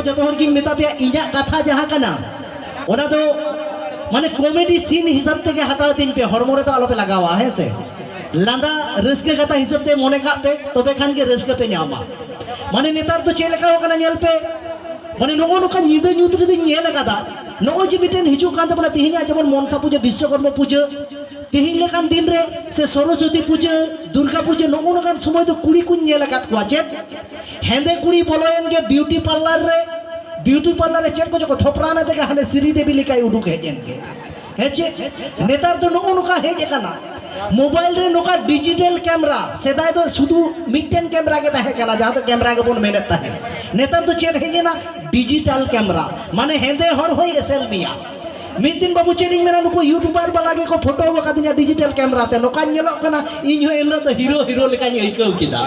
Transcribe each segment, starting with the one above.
ᱡᱚᱛᱚ ᱦᱚᱲ ᱜᱤᱧ ᱢᱮᱛᱟ ᱯᱮᱭᱟ ᱤᱧᱟᱹᱜ ᱠᱟᱛᱷᱟ ᱡᱟᱦᱟᱸ ᱠᱟᱱᱟ ᱚᱱᱟ ᱫᱚ ᱢᱟᱱᱮ ᱠᱚᱢᱮᱰᱤ ᱥᱤᱱ ᱦᱤᱥᱟᱹᱵ ᱛᱮᱜᱮ ᱦᱟᱛᱟᱣ ᱛᱤᱧ ᱯᱮ ᱦᱚᱲᱢᱚ ᱨᱮᱫᱚ ᱟᱞᱚᱯᱮ ᱞᱟᱜᱟᱣᱟ ᱦᱮᱸ ᱥᱮ ᱞᱟᱸᱫᱟ ᱨᱟᱹᱥᱠᱟᱹ ᱠᱟᱛᱷᱟ ᱦᱤᱥᱟᱹᱵ ᱛᱮ ᱢᱚᱱᱮ ᱠᱟᱜ ᱯᱮ ᱛᱚᱵᱮ ᱠᱷᱟᱱ ᱜᱮ ᱨᱟᱹᱥᱠᱟᱹ ᱯᱮ ᱧᱟᱢᱟ ᱢᱟᱱᱮ ᱱᱮᱛᱟᱨ ᱫᱚ ᱪᱮᱫ ᱞᱮᱠᱟ ᱠᱟᱱᱟ ᱧᱮᱞ ᱯᱮ ᱢᱟᱱᱮ ᱱᱚᱜᱼᱚ ᱱᱚᱝᱠᱟ ᱧᱤᱫᱟᱹ ᱧᱩᱛ ᱨᱮᱫᱚᱧ ᱧᱮᱞ ᱟᱠᱟᱫᱟ ᱱᱚᱜᱼᱚᱭ ᱡᱮ ᱢᱤᱫᱴᱮᱱ ᱦᱤᱡᱩᱜ ᱠᱟᱱ ᱛᱟᱵᱚᱱᱟ ᱛᱮᱦᱮᱧᱟᱜ ᱡᱮᱢᱚᱱ ᱢᱚᱱᱥᱟ ᱯᱩᱡᱟᱹ ᱵᱤᱥᱥᱚᱠᱚᱨᱢᱟ ᱯᱩᱡᱟᱹ ᱛᱮᱦᱮᱧ ᱞᱮᱠᱟᱱ ᱫᱤᱱ ᱨᱮ ᱥᱮ ᱥᱚᱨᱚᱥᱚᱛᱤ ᱯᱩᱡᱟᱹ ᱫᱩᱨᱜᱟ ᱯᱩᱡᱟᱹ ᱱᱚᱜᱼᱚ ᱱᱚᱝᱠᱟᱱ ᱥᱚᱢᱚᱭ ᱫᱚ ᱠᱩᱲᱤ ᱠᱚᱧ ᱧᱮᱞ ᱟᱠᱟᱫ ᱠᱚᱣᱟ ᱪᱮᱫ ᱦᱮᱸᱫᱮ ᱠᱩᱲᱤ ᱵᱚᱞᱚᱭᱮᱱ ᱜᱮ ᱵᱤᱭᱩᱴᱤ ᱯᱟᱨᱞᱟᱨ ᱨᱮ ᱵᱤᱭᱩᱴᱤ ᱯᱟᱨᱞᱟᱨ ᱨᱮ ᱪᱮᱫ ᱠᱚᱪᱚ ᱠᱚ ᱛᱷᱚᱯᱨᱟᱣ ᱢᱮ ᱛᱮᱜᱮ ᱦᱟᱱᱮ ᱥᱨᱤ ᱫᱮᱵᱤ ᱞᱮᱠᱟᱭ ᱩᱰᱩᱠ ᱦᱮᱡ ᱮᱱ ᱜᱮ ᱦᱮᱸ ᱪᱮᱫ ᱱᱮᱛᱟᱨ ᱫᱚ ᱱᱚᱜᱼᱚ ᱱᱚᱝᱠᱟ ᱦᱮᱡ ᱟᱠᱟᱱᱟ ᱢᱳᱵᱟᱭᱤᱞ ᱨᱮ ᱱᱚᱝᱠᱟ ᱰᱤᱡᱤᱴᱮᱞ ᱠᱮᱢᱨᱟ ᱥᱮᱫᱟᱭ ᱫᱚ ᱥᱩᱫᱷᱩ ᱢᱤᱫᱴᱮᱱ ᱠᱮᱢᱨᱟ ᱜᱮ ᱛᱟᱦᱮᱸ ᱠᱟᱱᱟ ᱡᱟᱦᱟᱸ ᱫᱚ ᱠᱮᱢᱨᱟ ᱜᱮᱵᱚᱱ ᱢᱮᱱᱮᱫ ᱛᱟᱦᱮᱸᱫ ᱱᱮᱛᱟᱨ ᱫᱚ ᱪᱮᱫ ᱦᱮᱡ ᱮᱱᱟ ᱰᱤᱡᱤᱴᱟᱞ ᱠᱮᱢᱨᱟ ᱢᱟᱱᱮ ᱦᱮᱸᱫᱮ ᱦᱚᱲ ᱦᱚᱸᱭ ᱮᱥᱮᱞ ᱢᱮᱭᱟ ᱢᱤᱫ ᱫᱤᱱ ᱵᱟᱹᱵᱩ ᱪᱮᱫ ᱤᱧ ᱢᱮᱱᱟ ᱱᱩᱠᱩ ᱤᱭᱩᱴᱩᱵᱟᱨ ᱵᱟᱞᱟ ᱜᱮᱠᱚ ᱯᱷᱳᱴᱳ ᱟᱠᱟᱫᱤᱧᱟ ᱰᱤᱡᱤᱴᱟᱞ ᱠᱮᱢᱮᱨᱟ ᱛᱮ ᱱᱚᱝᱠᱟᱧ ᱧᱮᱞᱚᱜ ᱠᱟᱱᱟ ᱤᱧ ᱦᱚᱸ ᱮᱱᱦᱤᱞᱳᱜ ᱫᱚ ᱦᱤᱨᱳ ᱦᱤᱨᱳ ᱞᱮᱠᱟᱧ ᱟᱹᱭᱠᱟᱹᱣ ᱠᱮᱫᱟ